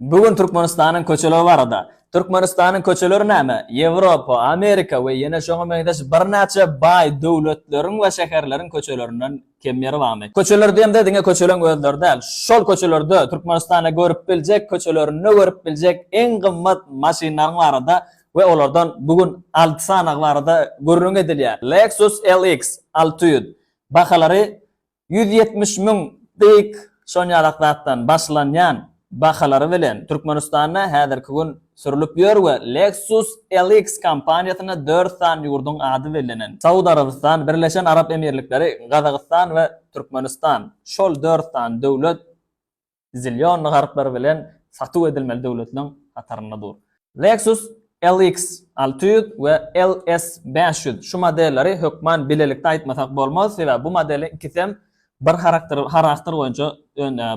Bu gün Türkmenistanyň köçeleri barada. Türkmenistanyň köçeleri näme? Ýewropa, Amerika we ýene şoňa meňzeş birnäçe baý döwletleriň we şäherleriň köçelerinden kem ýeri barmy? Köçeler diýemde diňe köçeleň özleri däl, şol köçelerde Türkmenistanda görüp biljek, köçelerinde görüp biljek iň gymmat maşynlaryň barada we olardan bu gün alty sanagy barada gürrüň edilýär. Lexus LX alty ýüz. Bahalary ýüz ýetmiş müň dyk şon ýalak zatdan başlanýan bahalary bilen Türkmenistanda häzirki gün sürlüp ýör we Lexus LX kompaniýasyna dört sany ýurduň ady bellenen, Saud Arabystany, Birleşen Arap Emirlikleri, Gazagystan we Türkmenistan, şol dört sany döwlet zillion harplary bilen satuw edilmeli döwletleň hatarynda dur. Lexus LX alty ýüz we LS bäş ýüz şu modelleri hökman bilelikde aýtmasak bolmaz, sebäbi bu modeliň ikisem bir harakter harakter boýunça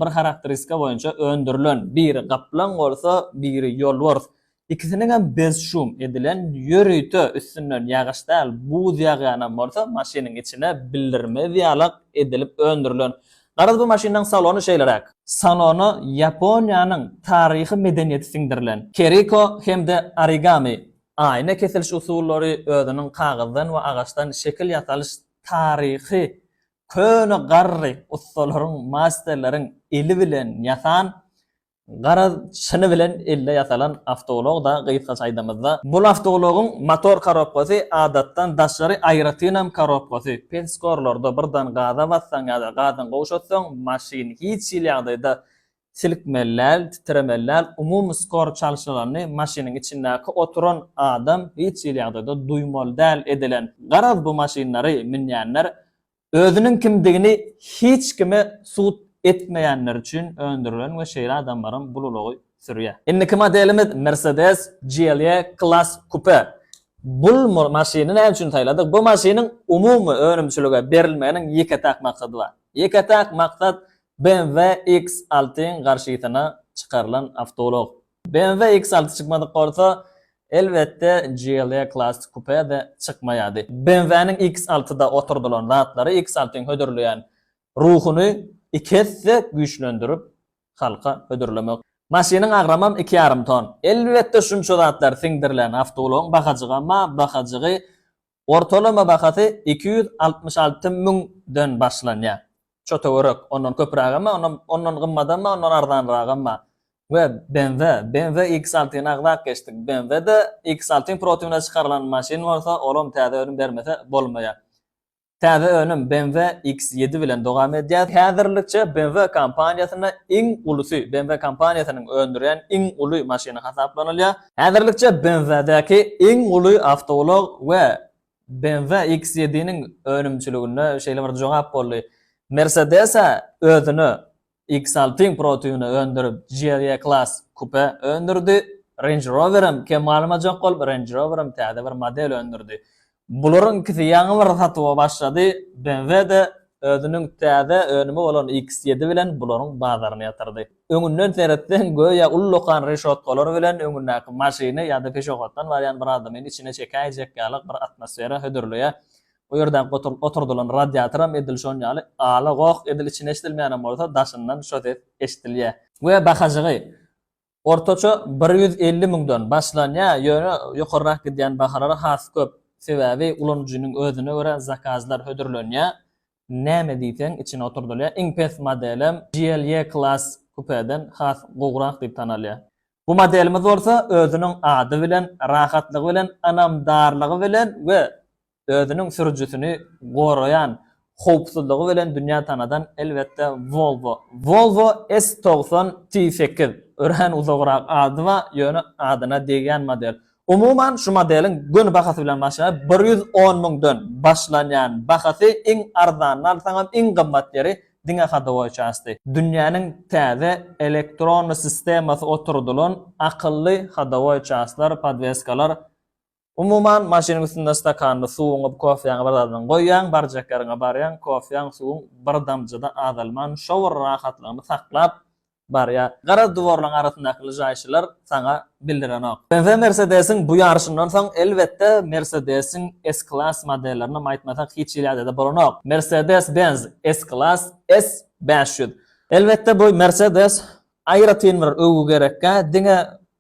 bir harakteristika boýunça öndürilen, biri gaplaň bolsa, biri ýolbars, Ikisiniňem bez-şum edilen ýörite üstünden ýagyş däl, buz ýagýanam bolsa, maşynyň içine bildirmez ýalak edilip öndürilen. Garaz, bu maşynyň salony şeýleräk. Salona Ýaponiýanyň taryhy medeniýeti siňdirilen. Keriko hem-de origami, aýna kesiliş usullary özüniň kagyzdan we agaçdan şekil ýasalyş taryhy köne garry ussalaryň, masterleriň eli bilen ýasan Garaz, çyny bilen elde ýasalan awtoulag-da, gysgaça aýdamyzda, bul awtoulagyň motor korobkasy adatdan daşary aýratynam korobkasy, pens-gorlarda birden gaza bassaň ýa-da gazdan gowşatsaň, maşyn hiç hili ýagdaýda silkmeli däl, titremeli däl, umumy skor çalşygany maşynyň içindäki oturan adam hiç hili ýagdaýda duýmaly däl edilen. Garaz, bu maşynlary münýänler Özüniň kimdigini hiç kime sud etmeýänler üçin öndürilen we şeýle adamlaram bul ulagy sürýär. Indiki modelimiz Mercedes GLE Class Coupe. Bul maşyny näme üçin saýladyk? Bu maşynyň umumy önümçilige berilmeginiň ýeke-täk maksady bar. Ýeke-täk maksat BMW X alty-yň garşysyna çykarylan awtoulag. BMW X-Alty çykmadyk bolsa, elbetde, GLE Classic Coupe-de çykmaýardy. BMW-niň X-Altyda oturdylan zatlary X-Altyň hödürleýän ruhuny iki esse güýçlendirip, halka hödürlemek. Maşynyň agramam iki ýarym ton. Elbetde, şunça zatlar siňdirilen awtoulagyň bahajygam-a bahajygy Ortalama bahasy iki ýüz altmyş alty müň den başlanýar. Şu töwerek, ondan köpürägem bar, ondan ondan gymmadam bar, ondan arzanragam bar. We BMW, BMW X altyny agzap geçdik. BMW-de X alty protiwine çykarylan maşyn bolsa, olam täze önüm bermese bolmaýar. Täze önüm BMW X ýedi bilen dowam edýär. Häzirlikçe BMW kompaniýasynda iň ulusy, BMW kompaniýasynyň öndürýän iň uly maşyny hasaplanylýar. Häzirlikçe BMW-däki iň uly awtoulag we BMW X7-niň önümçiligine şeýle bir jogap boldy. Mercedes-ä özüne X6-yň protybyny öndürip, GLE-Class kupe öndürdi. Range Rower hem kem galmajak bolup, Range Rower hem täze bir model öndürdi. Bularyň ikisi ýaňy bir satuwa başlady, BMW-de özüniň täze önümi bolan X-ýedi bilen bularyň bazaryny ýatyrdy. Öňünden seretseň, göýä uly lokan reşotkalary bilen öňündäki maşyny ýa-da peşohotdan barýan bir adamyny içine çekäýjek ýaly bir atmosfera hödürleýär. Bu ýerdäki oturdylan radiatoram edil şon ýaly ala-goh, edil içine eşidilmeýänem bolsa, daşyndan şo ses eşidilýär. We bahajygy, Ortaça bir ýüz elli müňden başlanýar, ýöne ýokarrak gidýän bahalar has köp, sebäbi ulanyjynyň özüne görä zakazlar hödürlenýär, näme diýseň içine oturdylýar, iň pes modelem GLE Class Coupe'den has gowrak diýip tanalýar. Bu modelimiz bolsa özüniň ady bilen, rahatlygy bilen, ynamdarlygy bilen we özüniň sürüjisini goraýan howpsuzlygy bilen dünýä tanadan elbetde Volvo. Volvo S togsan T sekiz, örän uzagrak ady bar, ýöne adyna degýän model. Umuman şu modeliň göni bahasy bilen başlaýar, bir ýüz on müňden başlanýan bahasy, iň arzanyny alsaňam iň gymmat ýeri diňe hadowoý çasty. Dünýäniň täze elektron sistemasy oturdylan akylly hadowoý çastlar, podweskalar Umuman, maşynyň üstünde stakanyny, suwuňy, kofýaňy bir zadyňy goýýaň, barjak ýeriňe barýaň, kofýaň, suwuň bir damja-da azalman, şo bir rahatlygyny saklap barýar. Gara duwarlaryň arasyndaky lyžaýşylar saňa bildirenok. BMW Mersedesiň bu ýaryşyndan soň, elbetde, Mersedesiň S-Class modellerinem aýtmasak hiç hili ýagdaýda bolanok. Mercedes-Benz S-Class S bäş ýüz. Elbetde, bu Mercedes aýratyn bir öwgi gerekkä, diňe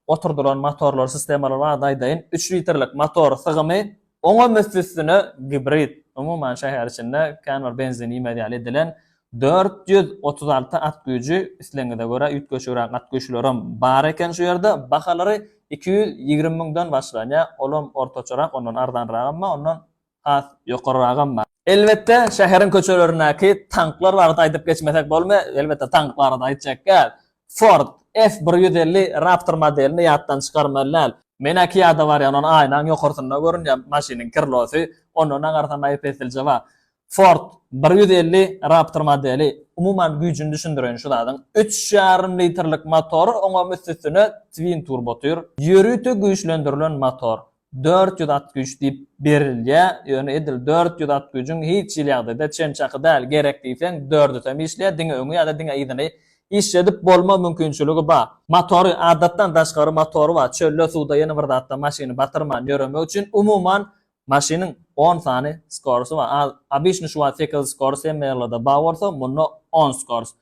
Oturdylan motorlar sistemalary barada aýdaýyn, üç litrlik motor sygymy oňam üsti-üstüne gibrid, umuman şäher içinde kän bir benzin iýmez ýaly edilen, dört ýüz otuz alty at güýji, islegiňize görä üýtgeşigräk at güýçlerem bar eken şu ýerde, bahalary iki ýüz ýigrimi müňden başlanýar, olam ortaçarak, ondan arzanragam bar, ondan has ýokaryragam bar. Elbetde, şäheriň köçelerindäki tanklar barada aýdyp geçmesek bolmay, elbetde tank barada aýtjak däl. Ford F bir ýüz elli Raptor modelini ýatdan çykarmaly däl. Menä kiýada barýan on aýnaň ýokarsynda görünýä maşynyň krlosy, onda nagarsan aýpessilje bar. Ford bir ýüz elli Raptor modeli, umuman güýjini düşündireýin şu zadyň, üç ýarym litrlik motory oňam üst-üstüne twin turbo tur, ýörite güýçlendirilen motor, Dört ýüz at güýç diýip berilýär, ýöne edil dört ýüz at güýjüň hiç hili ýagdaýda çen çaky däl, gerek diýseň dördüs hem işleýär, diňe öňi ýa-da diňe yzyny işledip bolma mümkinçiligi bar. Motory adatdan daşgary motory bar, çölde, suwda, ýene bir zatda maşyny batyrman ýöremek üçin, umuman maşynyň on sany skorusy bar, a obişni şu wagt sekiz skors hemme ýerlerde bar bolsa, munda on skors.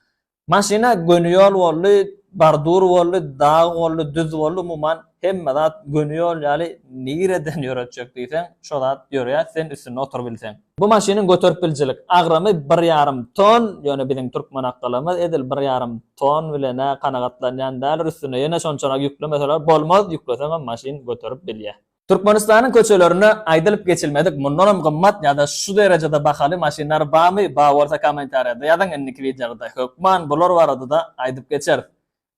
Maşyna göni ýol boldy, bardur boldy, dag boldy, düz boldy, umuman, hemme zat göni ýol ýaly, nireden ýöretjek diýseň, şo zat ýörýär, sen üstünde oturybilseň. Bu maşynyň göterip biljilik agramy bir ýarym ton, ýöne biziň türkmen akylymyz edil bir ýarym ton bilen-ä kanagatlanýan däldir, üstüne ýene şonçarak ýüklemeseler bolmaz, ýükleseňem maşyn göterip bilýär. Türkmenistanyň köçelerinde aýdylyp geçilmedik mundanam gymmat ýa-da şu derejede bahaly maşynlar barmy bar bolsa kommentariýada ýazyň indiki wideoda hökman bular baradada aýdyp geçeris.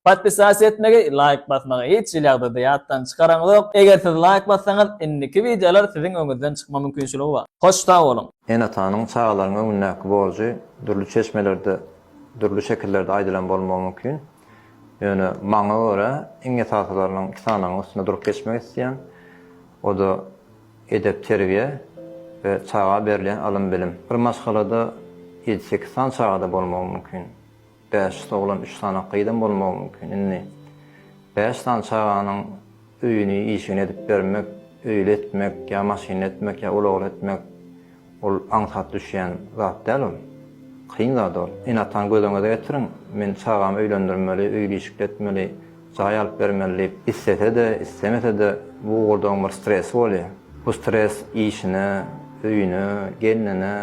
Podpisasiýa etmegi laýk basmagy hiç hili ýagdaýda ýatdan çykaraňzok eger siz laýk bassaňyz indiki wideolar siziň öňüzden çykma mümkinçiligi bar. Hoş sag boluň. Ene-atanyň çagalaryň öňündäki borjy dürli çeşmelerde dürli şekillerde aýdylan bolmagy mümkin. Ýöne maňa görä, iň esasylarynyň iki sanynyň üstünde durup geçmek isleýän, o-da edep-terbiýe we çaga berilýän ylym-bilim. Bir maşgalada ýedi-sekiz sany çagada bolmagy mümkin. Bäş oglan, üç sany gyzam bolmagy mümkin. Indi bäş sany çaganyň. Öýüni, işini edip bermek, öýli etmek ýa maşynly etmek ýa ulagly etmek, ol aňsat düşýän zat däl ol. Kyn zat ol. Ene-atany göz öňüňize getiriň. Men çagamy öýlendirmeli, öýli-işikli etmeli, jaý alyp bermeli diýip islese-de, islemese-de, bu ugurda onuň bir stresi bolýar. Bu stres işine, öýüne, gelnine,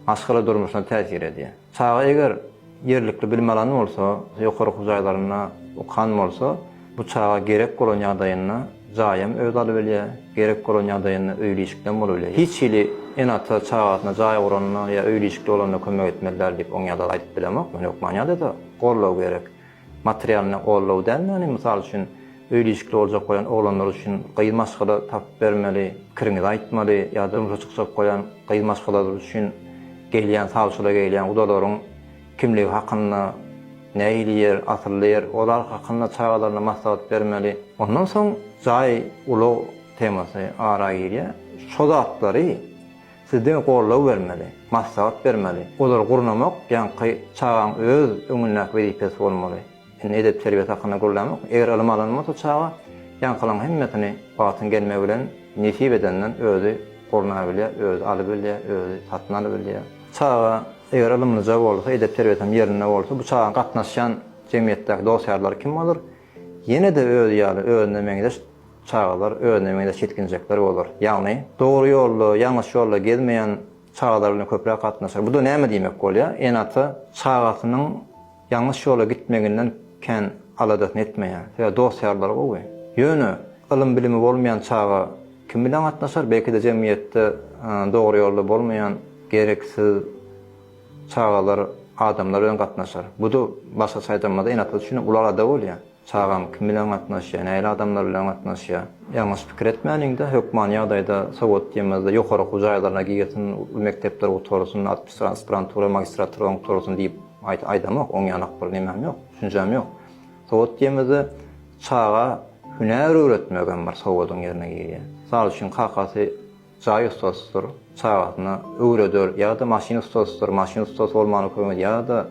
maşgala durmuşyna täsir edýär. Çaga eger ýerlikli bilim alan bolsa, ýokary okuw jaýlarynda okan bolsa, bu çaga gerek bolan ýagdaýynda jaýam özi alybilýär, gerek bolan ýagdaýynda öýli-işiklem bolubilýär. Hiç hili ene-ata çagasyna jaý guranda ýa öýli-işikli bolanda kömek etmeli däl diýip oňýazar aýdyp bilemok men hökman ýada-da goldaw gerek. Materialyny gollaw däl ýagny mysal üçin öýli-işikli boljak goýan oglanlar üçin gyz maşgala tapyp bermeli, pikiriňizi aýtmaly ýa-da durmuşa çykjak goýan gyz maşgalalar üçin gelýän sawçyla gelýän gudalaryň kimligi hakynda nähili ýer, asylly ýer olar hakynda çagalaryna maslahat bermeli. Ondan soň jaý, ulag temasy ara girýär. Şo zatlary Siz diňe goldaw bermeli, maslahat bermeli. Olary gurnamak ýaňky çagaň öz öňündäki wezipesi bolmaly. Indi edep-terbiýesi hakynda gürlämok. Eger ylym alan bolsa çaga, ýaňkylaryň hemmesini wagtyň gelmegi bilen nesip edenden özi gurnabilýär, özi alybilýär, özi satyn alybilýär. Çaga eger ylymlyja bolsa, edep-terbiýesi hem ýerinde bolsa, bu çagaň gatnaşýan jemgyýetdäki dost-ýarlary kim bolar? Ýene-de özi ýaly özüne meňzeş çagalar, özüne meňzeş ýetginjekler bolar. Ýagny, dogry ýolda, ýalňyş ýolda gezmeýän çagalar bilen köpräk gatnaşar. Bu-da näme diýmek bolýar? Ene-ata çagasynyň ýalňyş ýola gitmeginden kän aladasyny etmeýär. Sebäbi dost-ýarlary gowy. Ýöne, ylym-bilimi bolmaýan çaga kim bilen gatnaşar? Belki-de jemgyýetde dogry ýolda bolmaýan, gereksiz, Çagalar adamlar bilen gatnaşar. Bu-da başgaça aýdamyzda enatlar üçin uly alada bolýar. Çagaň kim bilen gatnaşýar, nähili adamlar bilen gatnaşýar. Ýalňyş pikir etmäliňde, hökmany ýagdaýda sowat diýemizde ýokary okuw jaýlaryna girsin, uly mekdepleri gutarsyn, aspirantura, magistratura gutarsyn diýip aýdamok. Oňýanak bir nemäm ýok, düşünjäm ýok. Sowat diýemizde çaga hünär öwretmegem bir sowadyň ýerine girýär. Mysal üçin kakasy jaý ussasydyr, çagasyna öwreder ýa-da maşyn ussasydyr, maşyn ussasy bolmany kömek ýa-da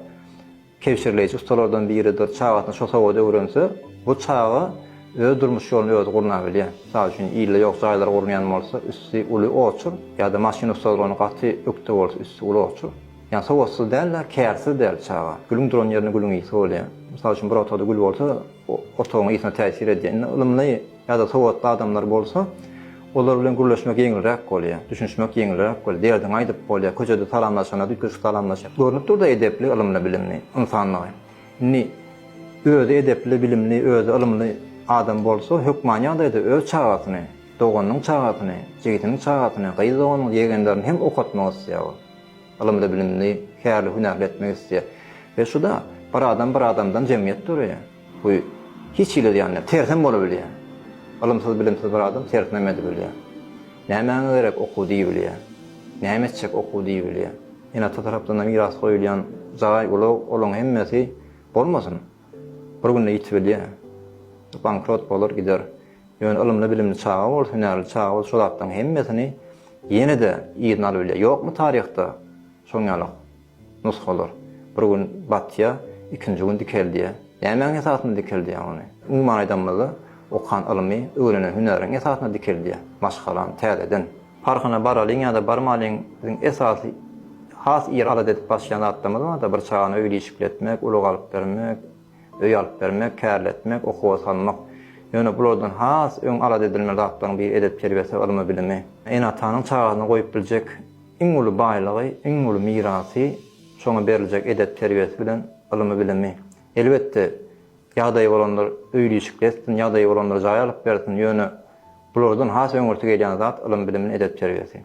kebşirleýji ussalardan biridir, çagasyny şo sowada öwrense, bu çaga öz durmuş ýoluny özi gurnabilýär. Mysal üçin, ilde ýok jaýlar gurunýan bolsa, üsti uly oçur, ýa-da maşyn ussadyr, ony gaty ökde bolsa, üsti uly oçur. Ýagny sowatsyz däl-de, kärsiz däl çaga. Gülüň duran ýerinde gülüň ysy bolýar. Mysal üçin, bir otagda gül bolsa, o otagyň ysyna täsir edýär. Indi ylymly Ýa-da sowatly adamlar bolsa, olar bilen gürleşmek ýeňilräk bolýar, düşünişmek ýeňilräk bolýar, derdiňi aýdyp bolýar, köçede salamlaşanda üýtgeşik salamlaşýar. Görnüp dur-da edepli, ylymly, bilimli ynsanlygy. Indi özi edepli, bilimli, özi ylymly adam bolsa, hökman ýagdaýda öz çagasyny, doganynyň çagasyny, jigidiniň çagasyny, gyz doganyny, ýegenlerini hem okatmak isleýär ol. Ylymly, bilimli, kärli, hünärli etmek isleýär. We şu-da, bir adam bir adamdan jemgyýet döreýär. Bu hiç hili zyýan däl. Tersem bolabilýär. Ylymsyz-bilimsiz bir adam tersinem edibilýär. Nämäňe gerek okuw diýibilýär. Näme etjek okuw diýibilýär. Ene-ata tarapdan-da miras goýulýan jaý, ulag, olaň hemmesi bolmasyn, bir günde ýitibilýär. Bankrot bolar gider. Ýöne ylymly-bilimli çaga bolsa, hünärli çaga bolsa şo zatlaryň hemmesini ýene-de yzyna alybilýär. Ýokmy taryhda şoň ýalak Nusgalar bir gün batýar, ikinji gün dikeldýär. Nämäň esasynda dikeldýär ony? Umuman aýdanymyzda, okan ylymy, öwrenen hünäriň esasynda dikeldýär. Maşgalam täzeden. Parhyna baralyň ýa-da barmalyň, biziň esasy has ir alat edip başlaýan zatlarymyz bar-da, bir çagany öýli işikletmek, ulag alyp bermek, öý alyp bermek, kärletmek, okuwa salmak. Ýöne bulardan has öň alat edilmeli zatlaryň biri edep-terbiýesi, ylmy-bilimi. Ene-atanyň çagasyna goýup biljek Iň uly baýlygy, iň uly mirasy şoňa beriljek edep-terbiýesi bilen ylymy-bilimi. Elbetde, ýagdaýy bolanlar öýli-işikli etsin, ýagdaýy bolanlar jaý alyp bersin, ýöne bulardan has öňürti gelýän zat ylym-bilim, edep-terbiýesi.